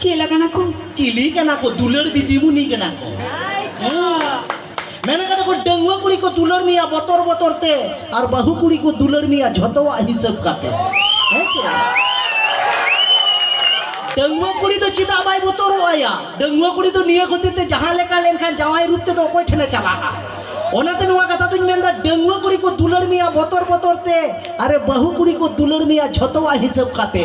ᱪᱮᱫ ᱞᱮᱠᱟᱱᱟ ᱠᱚ ᱪᱤᱞᱤ ᱠᱟᱱᱟ ᱠᱚ ᱫᱩᱞᱟᱹᱲ ᱫᱤᱫᱤᱢᱩᱱᱤ ᱠᱟᱱᱟ ᱠᱚ ᱢᱮᱱ ᱠᱟᱫᱟ ᱠᱚ ᱰᱟᱹᱝᱣᱟᱹ ᱠᱩᱲᱤ ᱠᱚ ᱫᱩᱞᱟᱹᱲ ᱢᱮᱭᱟ ᱵᱚᱛᱚᱨ ᱵᱚᱛᱚᱨ ᱛᱮ ᱟᱨ ᱵᱟᱹᱦᱩ ᱠᱩᱲᱤ ᱠᱚ ᱫᱩᱞᱟᱹᱲ ᱢᱮᱭᱟ ᱡᱷᱚᱛᱚᱣᱟᱜ ᱦᱤᱥᱟᱹᱵ ᱠᱟᱛᱮ ᱦᱮᱸ ᱪᱮ ᱰᱟᱹᱝᱣᱟᱹ ᱠᱩᱲᱤ ᱫᱚ ᱪᱮᱫᱟᱜ ᱵᱟᱭ ᱵᱚᱛᱚᱨᱚᱜᱼᱟᱭᱟ ᱰᱟᱹᱝᱣᱟᱹ ᱠᱩᱲᱤ ᱫᱚ ᱱᱤᱭᱟᱹ ᱠᱷᱟᱹᱛᱤᱨ ᱛᱮ ᱡᱟᱦᱟᱸ ᱞᱮᱠᱟ ᱞᱮᱱᱠᱷᱟᱱ ᱡᱟᱶᱟᱭ ᱨᱩᱯ ᱛᱮᱫᱚ ᱚᱠᱚᱭ ᱴᱷᱮᱱᱮ ᱪᱟᱞᱟᱜᱼᱟ ᱚᱱᱟᱛᱮ ᱱᱚᱣᱟ ᱠᱟᱛᱷᱟ ᱫᱚᱧ ᱢᱮᱱᱫᱟ ᱰᱟᱹᱝᱣᱟᱹ ᱠᱩᱲᱤ ᱠᱚ ᱫᱩᱞᱟᱹᱲ ᱢᱮᱭᱟ ᱵᱚᱛᱚᱨ ᱵᱚᱛᱚᱨ ᱛᱮ ᱟᱨᱮ ᱵᱟᱹᱦᱩ ᱠᱩᱲᱤ ᱠᱚ ᱫᱩᱞᱟᱹᱲ ᱢᱮᱭᱟ ᱡᱷᱚᱛᱚᱣᱟᱜ ᱦᱤᱥᱟᱹᱵ ᱠᱟᱛᱮ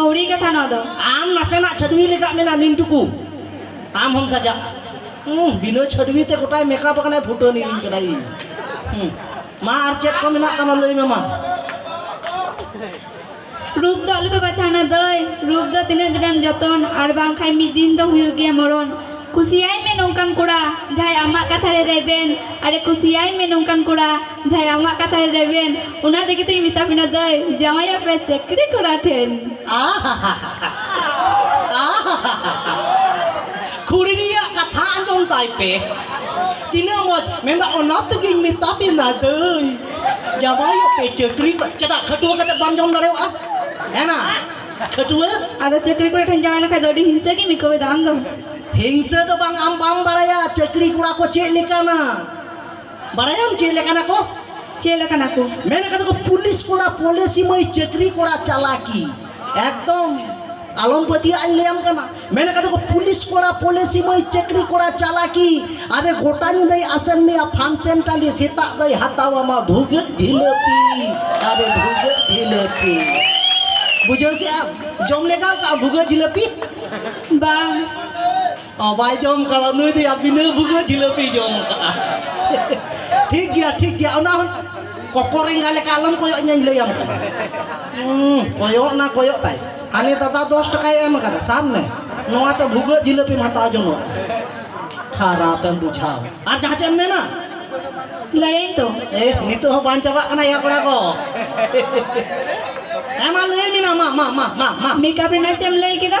ᱟᱹᱣᱲᱤ ᱠᱟᱛᱷᱟ ᱱᱚᱣᱟ ᱫᱚ ᱟᱢ ᱱᱟᱥᱮᱱᱟᱜ ᱪᱷᱟᱹᱰᱣᱤ ᱞᱮᱠᱟ ᱢᱮᱱᱟᱜ ᱱᱤᱢ ᱴᱩᱠᱩ ᱟᱢ ᱦᱚᱢ ᱥᱟᱡᱟᱜ ᱵᱤᱱᱟᱹ ᱪᱷᱟᱹᱰᱣᱤ ᱛᱮ ᱜᱚᱴᱟᱭ ᱢᱮᱠᱟᱯ ᱟᱠᱟᱱᱟᱭ ᱯᱷᱩᱴᱟᱹᱱᱤ ᱤᱧ ᱠᱟᱱᱟ ᱤᱧ ᱢᱟ ᱟᱨ ᱪᱮᱫ ᱠᱚ ᱢᱮᱱᱟᱜ ᱛᱟᱢᱟ ᱞᱟᱹᱭ ᱢᱮ ᱢᱟ ᱨᱩᱯ ᱫᱚ ᱟᱞᱚᱯᱮ ᱵᱟᱪᱷᱟᱣᱱᱟ ᱫᱟᱹᱭ ᱨᱩᱯ ᱫᱚ ᱛᱤᱱᱟᱹᱜ ᱫᱤᱱᱮᱢ ᱡᱚᱛᱚᱱ ᱟᱨ ᱵᱟᱝᱠᱷᱟᱱ ᱢᱤᱫ ᱫᱤᱱ ᱫᱚ ᱦᱩᱭᱩᱜ ᱜᱮᱭᱟ ᱢᱚᱨᱚᱱ ᱠᱩᱥᱤᱭᱟᱭ ᱢᱮ ᱱᱚᱝᱠᱟᱱ ᱠᱚᱲᱟ ᱡᱟᱦᱟᱸᱭ ᱟᱢᱟᱜ ᱠᱟᱛᱷᱟ ᱨᱮ ᱨᱮᱵᱮᱱ ᱟᱨᱮ ᱠᱩᱥᱤᱭᱟᱭ ᱢᱮ ᱱᱚᱝᱠᱟᱱ ᱠᱚᱲᱟ ᱡᱟᱦᱟᱸᱭ ᱟᱢᱟᱜ ᱠᱟᱛᱷᱟ ᱨᱮ ᱨᱮᱵᱮᱱ ᱚᱱᱟ ᱛᱮᱜᱮ ᱛᱚᱧ ᱢᱮᱛᱟ ᱵᱤᱱᱟ ᱫᱟᱹᱭ ᱡᱟᱶᱟᱭᱚᱜ ᱯᱮ ᱪᱟᱹᱠᱨᱤ ᱠᱚᱲᱟ ᱴᱷᱮᱱ᱾ ᱠᱩᱲᱤ ᱨᱮᱭᱟᱜ ᱠᱟᱛᱷᱟ ᱟᱸᱡᱚᱢ ᱛᱟᱭ ᱯᱮ ᱛᱤᱱᱟᱹᱜ ᱢᱚᱡᱽ ᱢᱮᱱᱫᱟ ᱚᱱᱟ ᱛᱮᱜᱮᱧ ᱢᱮᱛᱟ ᱵᱤᱱᱟ ᱫᱟᱹᱭ ᱡᱟᱶᱟᱭᱚᱜ ᱯᱮ ᱪᱟᱹᱠᱨᱤ ᱠᱚᱲᱟ ᱪᱮᱫᱟᱜ ᱠᱷᱟᱹᱴᱩᱣᱟᱹ ᱠᱟᱛᱮ ᱵᱟᱢ ᱡᱚᱢ ᱫᱟᱲᱮᱭᱟᱜᱼᱟ ᱦᱮᱸᱱᱟ ᱠᱷᱟᱹᱴᱩᱣᱟᱹ᱾ ᱟᱫᱚ ᱪᱟᱹᱠᱨᱤ ᱠᱚᱲᱟ ᱴᱷᱮᱱ ᱡᱟᱶᱟᱭ ᱞᱮᱱᱠᱷᱟᱱ ᱫᱚ ᱟᱹᱰᱤ ᱦᱤᱝᱥᱟᱹ ᱜᱮᱢ ᱟᱹᱭᱠᱟᱹᱣ ᱮᱫᱟ ᱟᱢ ᱫᱚ᱾ ᱦᱤᱝᱥᱟᱹ ᱫᱚ ᱵᱟᱝ ᱟᱢ ᱵᱟᱢ ᱵᱟᱲᱟᱭᱟ ᱪᱟᱹᱠᱨᱤ ᱠᱚᱲᱟ ᱠᱚ ᱪᱮᱫ ᱞᱮᱠᱟᱱᱟ᱾ ᱵᱟᱲᱟᱭᱟᱢ ᱪᱮᱫ ᱞᱮᱠᱟᱱᱟ ᱠᱚ ᱪᱮᱫ ᱞᱮᱠᱟᱱᱟ ᱠᱚ ᱢᱮᱱ ᱠᱟᱫᱟ ᱠᱚ ᱯᱩᱞᱤᱥ ᱠᱚᱲᱟ ᱯᱚᱞᱮᱥᱤ ᱢᱟᱹᱭ ᱪᱟᱹᱠᱨᱤ ᱠᱚᱲᱟ ᱪᱟᱞᱟᱠᱤ ᱮᱠᱫᱚᱢ ᱟᱞᱚᱢ ᱯᱟᱹᱛᱭᱟᱹᱜᱼᱟ ᱤᱧ ᱞᱟᱹᱭᱟᱢ ᱠᱟᱱᱟ ᱢᱮᱱ ᱠᱟᱫᱟ ᱠᱚ ᱯᱩᱞᱤᱥ ᱠᱚᱲᱟ ᱯᱚᱞᱮᱥᱤ ᱢᱟᱹᱭ ᱪᱟᱹᱠᱨᱤ ᱠᱚᱲᱟ ᱪᱟᱞᱟᱠᱤ ᱟᱨᱮ ᱜᱚᱴᱟ ᱧᱤᱫᱟᱹᱭ ᱟᱥᱮᱱ ᱢᱮᱭᱟ ᱯᱷᱟᱱᱥᱮᱱ ᱴᱟᱺᱰᱤ ᱥᱮᱛᱟᱜ ᱫᱚᱭ ᱦᱟᱛᱟᱣᱟᱢᱟ ᱵᱷᱩᱜᱟᱹᱜ ᱡᱷᱤᱞᱟᱹᱯᱤ ᱟᱨᱮ ᱵᱷᱩᱜᱟᱹᱜ ᱡᱷᱤᱞᱟᱹᱯᱤ ᱵᱩᱡᱷᱟᱹᱣ ᱠᱮᱜᱼᱟᱢ ᱡᱚᱢ ᱞᱮᱜᱟᱣ ᱠᱟᱜᱼᱟᱢ ᱵᱷᱩᱜᱟᱹᱜ ᱡᱷᱤᱞᱟᱹᱯᱤ ᱵᱟᱝ ᱵᱟᱭ ᱡᱚᱢ ᱠᱟᱫᱟ ᱱᱩᱭ ᱫᱚᱭᱟ ᱵᱤᱱᱟᱹ ᱵᱷᱩᱜᱟᱹ ᱡᱤᱞᱟᱹᱯᱤ ᱡᱚᱢ ᱠᱟᱜᱼᱟ ᱴᱷᱤᱠ ᱜᱮᱭᱟ ᱴᱷᱤᱠ ᱜᱮᱭᱟ ᱚᱱᱟ ᱦᱚᱸ ᱠᱚᱠᱚᱨ ᱮᱸᱜᱟ ᱞᱮᱠᱟ ᱟᱞᱚᱢ ᱠᱚᱭᱚᱜ ᱤᱧᱟᱹᱧ ᱞᱟᱹᱭᱟᱢ ᱠᱟᱱᱟ ᱠᱚᱭᱚᱜ ᱱᱟ ᱠᱚᱭᱚᱜ ᱛᱟᱭ ᱦᱟᱱᱮ ᱫᱟᱫᱟ ᱫᱚᱥ ᱴᱟᱠᱟᱭ ᱮᱢ ᱠᱟᱫᱟ ᱥᱟᱵ ᱢᱮ ᱱᱚᱣᱟᱛᱮ ᱵᱷᱩᱜᱟᱹᱜ ᱡᱤᱞᱟᱹᱯᱤᱢ ᱦᱟᱛᱟᱣ ᱡᱚᱱᱚᱜ ᱠᱷᱟᱨᱟᱯ ᱮᱢ ᱵᱩᱡᱷᱟᱹᱣ ᱟᱨ ᱡᱟᱦᱟᱸ ᱪᱮᱫ ᱮᱢ ᱢᱮᱱᱟ ᱞᱟᱹᱭᱟᱹᱧ ᱛᱚ ᱮ ᱱᱤᱛᱚᱜ ᱦᱚᱸ ᱵᱟᱝ ᱪᱟᱵᱟᱜ ᱠᱟᱱᱟ ᱭᱟ ᱠᱚᱲᱟ ᱠᱚ ᱦᱮᱸ ᱢᱟ ᱞᱟᱹᱭ ᱢᱮ ᱢᱟ ᱢᱟ ᱢᱟ ᱢᱟ ᱢᱟ ᱢᱮᱠᱟᱯ ᱨᱮᱱᱟᱜ ᱪᱮᱫ ᱮᱢ ᱞᱟᱹᱭ ᱠᱮᱫᱟ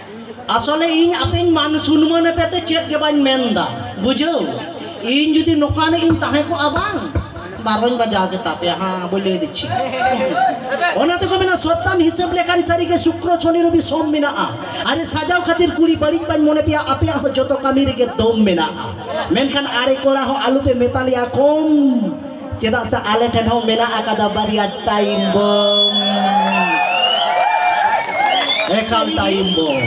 ᱟᱥᱚᱞᱮ ᱤᱧ ᱟᱯᱮᱧ ᱢᱟᱱ ᱥᱩᱱᱢᱟᱹᱱ ᱮᱯᱮ ᱛᱮ ᱪᱮᱫ ᱜᱮ ᱵᱟᱹᱧ ᱢᱮᱱ ᱫᱟ ᱵᱩᱡᱷᱟᱹᱣ ᱤᱧ ᱡᱩᱫᱤ ᱱᱚᱠᱟᱱᱤᱡ ᱤᱧ ᱛᱟᱦᱮᱸ ᱠᱚᱜᱼᱟ ᱵᱟᱝ ᱵᱟᱨᱚᱧ ᱵᱟᱡᱟᱣ ᱠᱮᱛᱟ ᱯᱮᱭᱟ ᱦᱟᱸ ᱵᱚᱞᱮ ᱫᱤᱪᱷᱤ ᱚᱱᱟ ᱛᱮᱠᱚ ᱢᱮᱱᱟ ᱥᱚᱯᱛᱟᱢ ᱦᱤᱥᱟᱹᱵ ᱞᱮᱠᱷᱟᱱ ᱥᱟᱹᱨᱤ ᱜᱮ ᱥᱩᱠᱨᱚ ᱥᱚᱱᱤ ᱨᱚᱵᱤ ᱥᱚᱢ ᱢᱮᱱᱟᱜᱼᱟ ᱟᱨᱮ ᱥᱟᱡᱟᱣ ᱠᱷᱟᱹᱛᱤᱨ ᱠᱩᱲᱤ ᱵᱟᱹᱲᱤᱡ ᱵᱟᱹᱧ ᱢᱚᱱᱮ ᱯᱮᱭᱟ ᱟᱯᱮᱭᱟᱜ ᱦᱚᱸ ᱡᱚᱛᱚ ᱠᱟᱹᱢᱤ ᱨᱮᱜᱮ ᱫᱚᱢ ᱢᱮᱱᱟᱜᱼᱟ ᱢᱮᱱᱠᱷᱟᱱ ᱟᱲᱮ ᱠᱚᱲᱟ ᱦᱚᱸ ᱟᱞᱚ ᱯᱮ ᱢᱮᱛᱟ ᱞᱮᱭᱟ ᱠᱚᱢ ᱪᱮᱫᱟᱜ ᱥᱮ ᱟᱞᱮ ᱴᱷᱮᱱ ᱦᱚᱸ ᱢᱮᱱᱟᱜ ᱟᱠᱟᱫᱟ ᱵᱟᱨᱭᱟ ᱴᱟᱭᱤᱢ ᱵᱚᱢ ᱮᱠᱟᱞ ᱴᱟᱭᱤᱢ ᱵᱚᱢ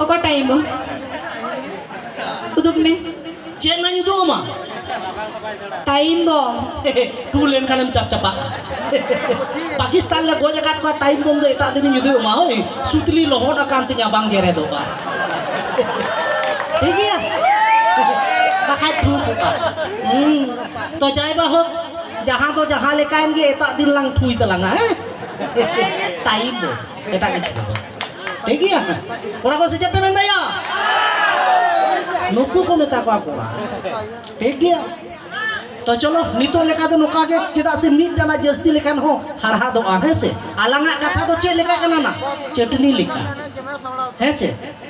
ᱚᱠᱟ ᱴᱟᱭᱤᱢ ᱵᱚᱢ ᱩᱫᱩᱜ ᱢᱮ ᱪᱮᱫ ᱱᱟᱧ ᱩᱫᱩᱜ ᱟᱢᱟ ᱴᱟᱭᱤᱢ ᱵᱚᱢ ᱴᱩ ᱞᱮᱱᱠᱷᱟᱱᱮᱢ ᱪᱟᱯ ᱪᱟᱯᱟᱜ ᱯᱟᱠᱤᱥᱛᱟᱱ ᱞᱮ ᱜᱚᱡ ᱟᱠᱟᱫ ᱠᱚᱣᱟ ᱴᱟᱭᱤᱢ ᱵᱚᱢ ᱫᱚ ᱮᱴᱟᱜ ᱫᱤᱱᱤᱧ ᱩᱫᱩᱜ ᱟᱢᱟ ᱦᱳᱭ ᱥᱩᱛᱞᱤ ᱞᱚᱦᱚᱫ ᱟᱠᱟᱱ ᱛᱤᱧᱟ ᱵᱟᱝ ᱜᱮᱨᱮᱫᱚᱜᱼᱟ ᱴᱷᱤᱠ ᱜᱮᱭᱟ ᱵᱟᱠᱷᱟᱡ ᱴᱷᱩ ᱠᱚᱜᱼᱟ ᱛᱚ ᱡᱟᱭ ᱵᱟ ᱦᱳᱠ ᱡᱟᱦᱟᱸ ᱫᱚ ᱡᱟᱦᱟᱸ ᱞᱮᱠᱟᱭᱮᱱ ᱜᱮ ᱮᱴᱟᱜ ᱫᱤᱱ ᱞᱟᱝ ᱴᱷᱩᱭ ᱛᱟᱞᱟᱝᱟ ᱦᱮᱸ ᱴᱟᱭᱤᱢ ᱫᱚ ᱮᱴᱟᱜ ᱠᱤᱪᱷᱩ ᱫᱚ ᱴᱷᱤᱠ ᱜᱮᱭᱟ ᱠᱚᱲᱟ ᱠᱚ ᱥᱮ ᱪᱮᱫ ᱯᱮ ᱢᱮᱱᱫᱟᱭᱟ ᱱᱩᱠᱩ ᱠᱚ ᱢᱮᱛᱟ ᱠᱚᱣᱟ ᱠᱚᱲᱟ ᱴᱷᱤᱠ ᱜᱮᱭᱟ ᱛᱚ ᱪᱚᱞᱚ ᱱᱤᱛᱚᱜ ᱞᱮᱠᱟ ᱫᱚ ᱱᱚᱝᱠᱟ ᱜᱮ ᱪᱮᱫᱟᱜ ᱥᱮ ᱢᱤᱫ ᱴᱟᱱᱟ ᱡᱟᱹᱥᱛᱤ ᱞᱮᱠᱷᱟᱱ ᱦᱚᱸ ᱦᱟᱲᱦᱟᱫᱚᱜᱼᱟ ᱦᱮᱸ ᱥᱮ ᱟᱞᱟᱝᱟᱜ ᱠᱟᱛᱷᱟ ᱫᱚ ᱪᱮᱫ ᱞᱮᱠᱟ ᱠᱟᱱᱟ ᱱᱟ ᱪᱟᱹᱴᱱᱤ ᱞᱮᱠᱟ ᱦᱮᱸ ᱪᱮ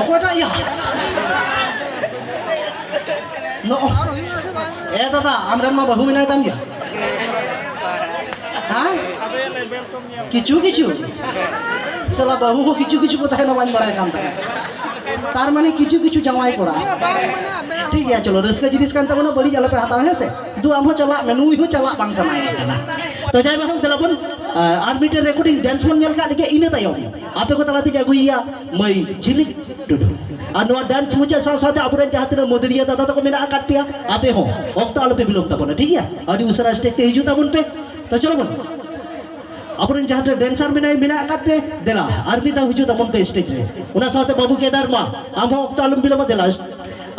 ᱚᱠᱚᱭᱴᱟᱜ ᱭᱟ ᱮ ᱫᱟᱫᱟ ᱟᱢᱨᱮᱱ ᱢᱟ ᱵᱟᱹᱦᱩ ᱢᱮᱱᱟᱭ ᱛᱟᱢ ᱜᱮᱭᱟ ᱦᱮᱸ ᱠᱤᱪᱷᱩ ᱠᱤᱪᱷᱩ ᱥᱟᱞᱟ ᱵᱟᱹᱦᱩ ᱦᱚᱸ ᱠᱤᱪᱷᱩ ᱠᱤᱪᱷᱩ ᱠᱚ ᱛᱟᱦᱮᱱᱟ ᱵᱟᱹᱧ ᱵᱟᱲᱟᱭ ᱠᱟᱱ ᱛᱟᱦᱮᱸ ᱛᱟᱨ ᱢᱟᱱᱮ ᱠᱤᱪᱷᱩ ᱠᱤᱪᱷᱩ ᱡᱟᱶᱟᱭ ᱠᱚᱲᱟ ᱴᱷᱤᱠ ᱜᱮᱭᱟ ᱪᱚᱞᱚ ᱨᱟᱹᱥᱠᱟᱹ ᱡᱤᱱᱤᱥ ᱠᱟᱱ ᱛᱟᱵᱚᱱᱟ ᱵᱟᱹᱲᱤᱡ ᱟᱞᱚᱯᱮ ᱦᱟᱛᱟᱣᱟ ᱦᱮᱸ ᱥᱮ ᱫᱩ ᱟᱢ ᱦᱚᱸ ᱪᱟᱞᱟᱜ ᱢᱮ ᱱᱩᱭ ᱦᱚᱸ ᱪᱟᱞᱟᱜ ᱵᱟᱝ ᱥᱟᱱᱟᱭᱮ ᱠᱟᱱᱟ ᱛᱚ ᱡᱟᱭ ᱵᱟᱹᱦᱩ ᱫᱮᱞᱟ ᱵᱚᱱ ᱟᱨ ᱢᱤᱫᱴᱮᱱ ᱨᱮᱠᱚᱨᱰᱤᱝ ᱰᱮᱱᱥ ᱵᱚᱱ ᱧᱮᱞ ᱠᱟᱜ ᱞᱮᱜᱮ ᱤᱱᱟᱹ ᱛᱟᱭᱚᱢ ᱟᱯᱮ ᱠᱚ ᱛᱟᱞᱟ ᱛᱮᱜᱮ ᱟᱹᱜᱩᱭᱮᱭᱟ ᱢᱟᱹᱭ ᱡᱷᱤᱞᱤ ᱴᱩᱰᱩ ᱟᱨ ᱱᱚᱣᱟ ᱰᱟᱱᱥ ᱢᱩᱪᱟᱹᱫ ᱥᱟᱶ ᱥᱟᱶᱛᱮ ᱟᱵᱚᱨᱮᱱ ᱡᱟᱦᱟᱸ ᱛᱤᱱᱟᱹᱜ ᱢᱩᱫᱽᱨᱤᱭᱟᱹ ᱫᱟᱫᱟ ᱛᱟᱠᱚ ᱢᱮᱱᱟᱜ ᱟᱠᱟᱫ ᱯᱮᱭᱟ ᱟᱯᱮ ᱦᱚᱸ ᱚᱠᱛᱚ ᱟᱞᱚᱯᱮ ᱵᱤᱞᱚᱢ ᱛᱟᱵᱚᱱᱟ ᱴᱷᱤᱠ ᱜᱮᱭᱟ ᱟᱹᱰᱤ ᱩᱥᱟᱹᱨᱟ ᱥᱴᱮᱡᱽ ᱛᱮ ᱦᱤᱡᱩᱜ ᱛᱟᱵᱚᱱ ᱯᱮ ᱛᱚ ᱪᱚᱞᱚ ᱵᱚᱱ ᱟᱵᱚᱨᱮᱱ ᱡᱟᱦᱟᱸ ᱛᱤᱱᱟᱹᱜ ᱰᱮᱱᱥᱟᱨ ᱢᱮᱱᱟᱭ ᱢᱮᱱᱟᱜ ᱟᱠᱟᱫ ᱯᱮ ᱫᱮᱞᱟ ᱟᱨ ᱢᱤᱫ ᱫᱷᱟᱣ ᱦᱤᱡᱩᱜ ᱛᱟᱵᱚᱱ ᱯᱮ ᱥᱴᱮᱡᱽ ᱨᱮ ᱚᱱᱟ ᱥᱟᱶᱛᱮ ᱵᱟᱹᱵᱩ ᱠᱮᱫᱟᱨ ᱢᱟ ᱟᱢ ᱦᱚᱸ ᱚᱠᱛᱚ ᱟᱞᱚᱢ ᱵᱤᱞᱚᱢᱟ ᱫᱮᱞᱟ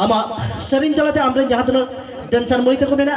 ᱟᱢᱟᱜ ᱥᱮᱨᱮᱧ ᱛᱟᱞᱟᱛᱮ ᱟᱢᱨᱮᱱ ᱡᱟᱦᱟᱸ ᱛᱤᱱᱟᱹᱜ ᱰᱮᱱᱥᱟᱨ ᱢᱟᱹᱭ ᱛᱟᱠᱚ ᱢᱮᱱᱟᱜ